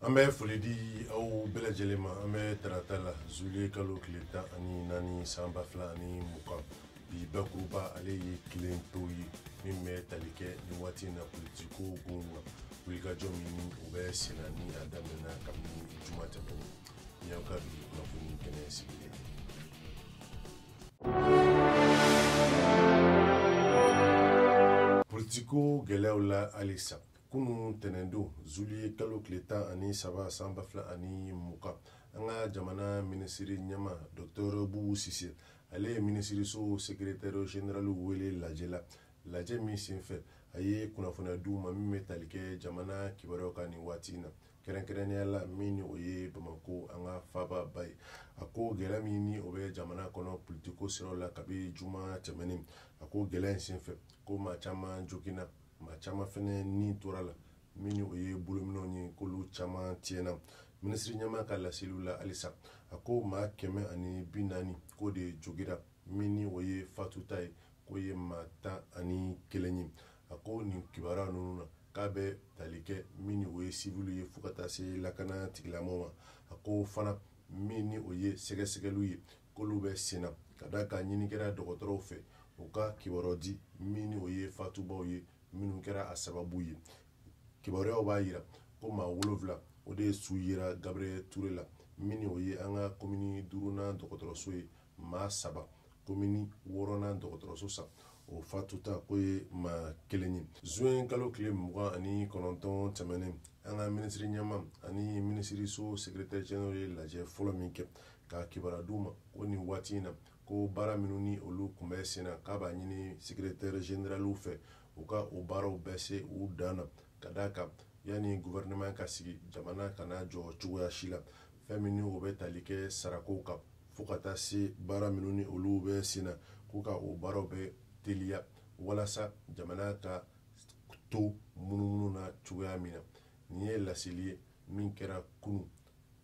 an bɛ foli di aw bɛɛ lajɛlen ma an bɛ tarata la zuliye kalo tile tan ani naani san ba fila ani mugan bi bakuruba ale ye kelen to ye min bɛ tali kɛ nin waati in na politiko kun na wulikajɔ min ni o bɛ senna ni a daminɛna kabini juma tɛmɛnen ni aw ka bi kunnafoni kɛnɛ sigilen politiko gɛlɛyaw la halisa kunun tɛnɛndon zuliye kalo tile tan ani saba san ba fila ani mugan an ka jamana minisiri ɲɛmaa dɔktɔr bubu sise ale ye minisiriso sekeretɛri zeneraliw wele lajɛ la lajɛ min senfɛ a ye kunnafoniya di u ma min bɛ tali kɛ jamana kibaruyaw kan nin waati in na kɛrɛnkɛrɛnnenya la min ni o ye bamakɔ an ka faababa ye a ko gɛlɛya min ni o bɛ jamana kɔnɔ politiko siraw la kabi juma tɛmɛnen a ko gɛlɛya in senfɛ ko maa caman joginna maa caman fɛnɛ ni tora a la min ni o ye bolominɛw ye k'olu caman tiɲɛna minisiri ɲɛmaa ka laseliw la halisa a ko maa kɛmɛ ani bi naani k'o de jogira min ni o ye fatuta ye k'o ye maa tan ani kelen ye a ko nin kibaruya ninnu na k'a bɛ tali kɛ min ni o ye siviliw ye fo ka taa se lakana tigilamaaw ma a ko fana min ni o ye sɛgɛsɛgɛliw ye k'olu bɛ sen na ka d'a kan ɲini kɛra dɔgɔtɔrɔw fɛ u ka kibaruyaw di min ni o ye fatubaaw ye minnu kɛra a sababu ye kibaruyaw b'a yira ko maa wolonfila o de su yera gabriel ture la min ni o ye an ka komini duurunan dɔgɔtɔrɔso ye maa saba komini wɔɔrɔnan dɔgɔtɔrɔso sa o fatuta k'o ye maa kelen ye zuwɛn kalo tile mugan ani kɔnɔntɔn tɛmɛnen an ka minisiri ɲɛmaa ani minisiriso sekiretɛri zeneraliw ye lajɛ fɔlɔ min kɛ ka kibaruya d'u ma ko nin waati in na ko baara minnu ni olu kun bɛ sen na k'a b'a ɲini sekiretɛri zeneraliw fɛ u ka o baaraw bɛɛ se u dan na ka d'a kan yanni guvɛrɛnɛman ka sigi jamana kana jɔ cogoya si la fɛn min ni o bɛ tali kɛ sarakow kan fo ka taa se baara minnu ni olu bɛ sen na k'u ka o baaraw bɛɛ teliya walasa jamana ka to munumunu na cogoya min na nin ye laseli ye min kɛra kunun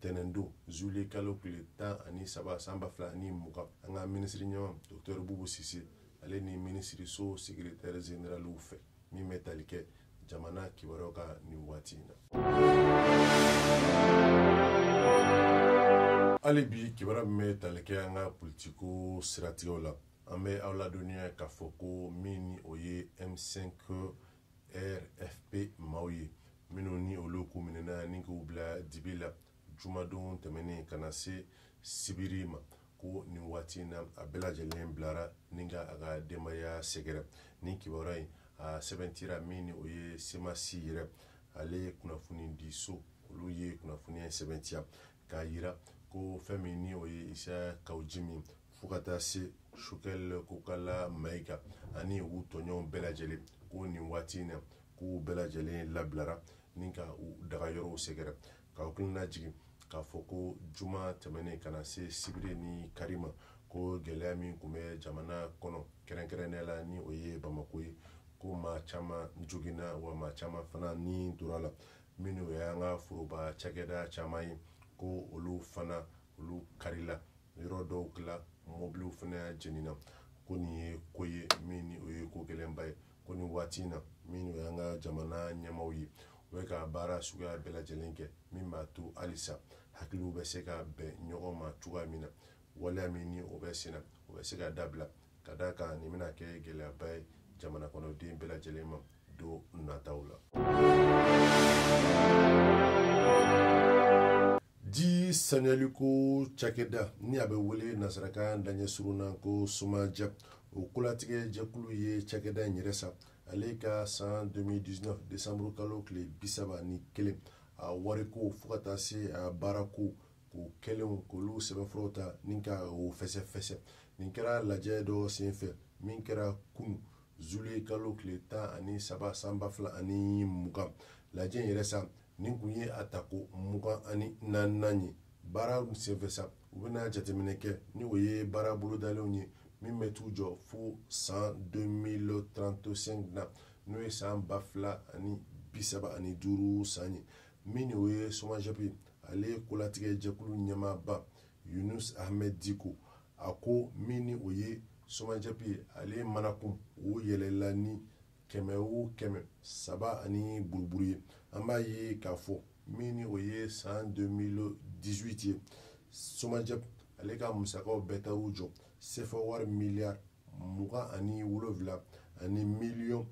tɛnɛndon zuliye kalo tile tan ani saba san ba fila ani mugan an ka minisiri ɲɛmaa dɔktɛri bubu sise ale ni minisiriso sekiretɛri zeneraliw fɛ min bɛ tali kɛ jamana kibaruyaw kan nin waati in na hali bi kibaruya min bɛ tali kɛ an ka politiko siratigɛw la an bɛ aw ladɔnniya k'a fɔ ko min ni o ye m5 rfp maaw ye minnu ni olu kun minɛna ni k'u bila dibi la jumadon tɛmɛnen ka na se sibiri ma ko nin waati in na a bɛɛ lajɛlen bilara ni ka a ka denbaya sɛgɛrɛ nin kibaruya in a sɛbɛntira min ni o ye semasi yɛrɛ ale kunnafonidiso olu ye kunnafoni in sɛbɛntiya k'a yira ko fɛn min ni o ye isa kawu jimi fo ka taa se sogɛl kokala mayiga ani u tɔɲɔgɔnw bɛɛ lajɛlen ko nin waati in na k'u bɛɛ lajɛlen labilara ni ka u dagayɔrɔw sɛgɛrɛ k'aw hakili lajigin k'a fɔ ko juma tɛmɛnen ka na se sibiri ni kari ma ko gɛlɛya min tun bɛ jamana kɔnɔ kɛrɛnkɛrɛnnenya la ni o ye bamako ye ko maa caman joginna wa maa caman fana ni tor'a la minnu ye an ka foroba cakɛda caman ye ko olu fana olu karila yɔrɔ dɔw la mɔbiliw fana jenina ko nin ye ko ye min ni o ye ko gɛlɛnba ye ko nin waati in na minnu y'an ka jamana ɲɛmaw ye u bɛ ka baara suguya bɛɛ lajɛlen kɛ min b'a to halisa hakiliw bɛ se ka bɛn ɲɔgɔn ma cogoya min na waleya min ni o bɛ sen na o bɛ se ka dabila ka d'a kan nin bɛna kɛ gɛlɛyaba ye jamana kɔnɔden bɛɛ lajɛlen ma don nataw la ji saniyaliko cakɛda ni a bɛ wele nasarakan daɲɛ surun na ko somajɛp o kolatigɛ jɛkulu ye cakɛda in yɛrɛ sa ale ka san 2019 desanburu kalo tile bisaba ni kelen a wariko fo ka taa se a baarako ko kɛlenw k'olu sɛbɛnfuraw ta ni ka o fɛsɛfɛsɛ nin kɛra lajɛ dɔ senfɛ min kɛra kunu zuluye kalo tile tan ani saba san ba fila ani mugan lajɛ in yɛrɛ sa nin tun ye a ta ko mugan ani naaninan ye baara senfɛ sa u bɛna jateminɛ kɛ ni o ye baara bolodalenw ye min bɛ t'u jɔ fo san 2035 na n'o ye san ba fila ani bi saba ani duuru san ye min ni o ye somajɛpi ale kolatigɛ jɛkulu ɲɛmaaba yunus ahmed diko a ko min ni o ye somajɛpi ale manankun o yɛlɛla ni kɛmɛ o kɛmɛ saba ani buruburu ye an b'a ye k'a fɔ min ni o ye san 2018 ye somajɛp ale ka musakaw bɛɛ taar'u jɔ sefa wari miliyari mugan ani wolonfila ani miliyɔn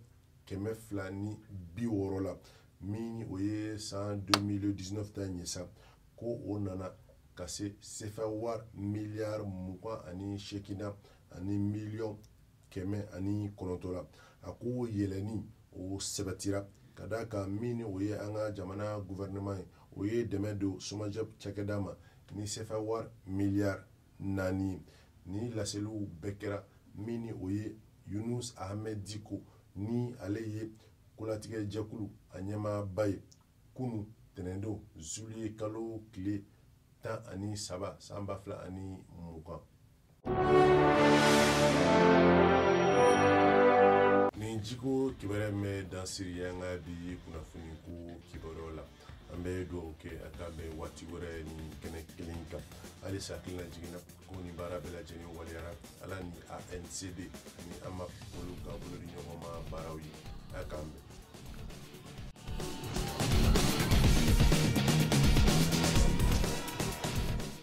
kɛmɛ fila ni bi wɔɔrɔ la min ni o ye san 2019 ta ye sa ko o nana ka se sefa wari miliyari mugan ani seegin na ani miliyɔn kɛmɛ ani kɔnɔntɔn na a ko yɛlɛni o sabatira ka d'a kan min ni o ye an ka jamana gouvernement ye o ye dɛmɛ don SOMAGEP cakɛda ma ni sefa wari miliyari naani ye nin laseliw bɛɛ kɛra min ni o ye yunus ahmed diko ni ale ye kolatigɛ jɛkulu a ɲɛmaaba ye kunu tɛnɛndon zuliye kalo tile tan ani saba san ba fila ani mugan Nin jiko kibaruya bɛ dan sigi an ka bi kunnafoniko kibaruya la an bɛ dugawu kɛ a k'an bɛn waati wɛrɛ nin kɛnɛ kelen kan halisa hakililajigin na ko nin baara bɛɛ lajɛlen waleyara ala ni ANCD ani AMAP olu ka bolodiɲɔgɔnma baaraw ye a k'an bɛn